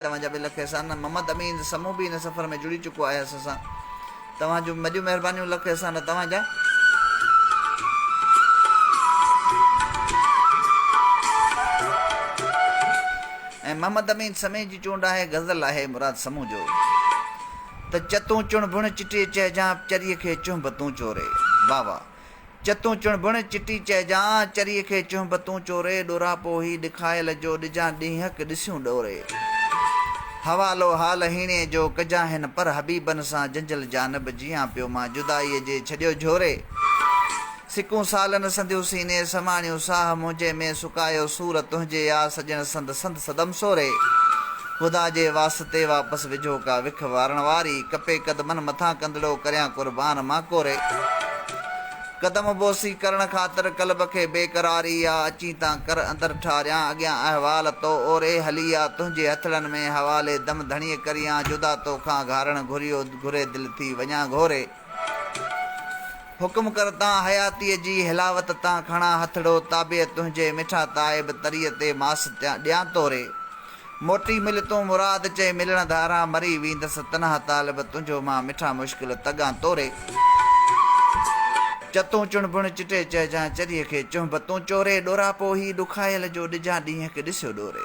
توهان جا به لک احسان. محمد امين سمون به ان سفر ۾ جڙي چڪو آهي اسان سان. توهان جون وڏيون مهربانيون لک احسان توهان جا. ۽ محمد امين سمين جي چونڊ آهي غزل آهي مراد سمون جو ته چتون چڻ بڻ چٽي چهجان چريء کي چنهب تون چوري واهه واهه. چتون چڻڀڻ چٽي چئجان، چريء کي چهنب تون چوري، ڏوراپو هي ڏکايل جو، ڏجان ڏينهنڪ ڏسيون ڏوري. حوالو حال هيڻي جو، ڪجان هن پر حبيبن سان، جنجل جانب جيئان پيو مان، جدائيء جي ڇڏيو جهوري. سڪون سالن سنديون سيني، سماڻيون ساهه منهنجي ۾، سڪايو سور تنهنجي آ، سڄڻ سند سند. صدم سوري، خدا جي واسطي واپس وجهو ڪا وک وارڻ واري، ڪپي قدمن مٿان ڪندڙو ڪريان قربان مان ڪوري، قدم بوسي ڪرڻ خاطر قلب کي بي قراري آ، اچين تان ڪر اندر ٺاريان اڳيان احوال تو اوري هلي آ، تنهنجي هٿڙن ۾ حوالي دم ڌڻيء ڪريان جدا توکان گهارڻ گهريو گهري دل ٿي وڃان گهوري. حڪم ڪر تان حياتيء جي حلاوت تان کڻان هٿڙو تابع تنهنجي مٺا تائب تريء تي ماس ڏيان توري موٽي مل تون مراد چئي ملڻ ڌاران مري ويندس تنها طالب تنهنجو مان مٺا مشڪل تڳان توري چتون چڻبڻ چٽي چئجان چريء کي چنهب تون چوري ڏوراپو هي ڏکايل جو ڏجان ڏينهن هڪ ڏسيو ڏوري.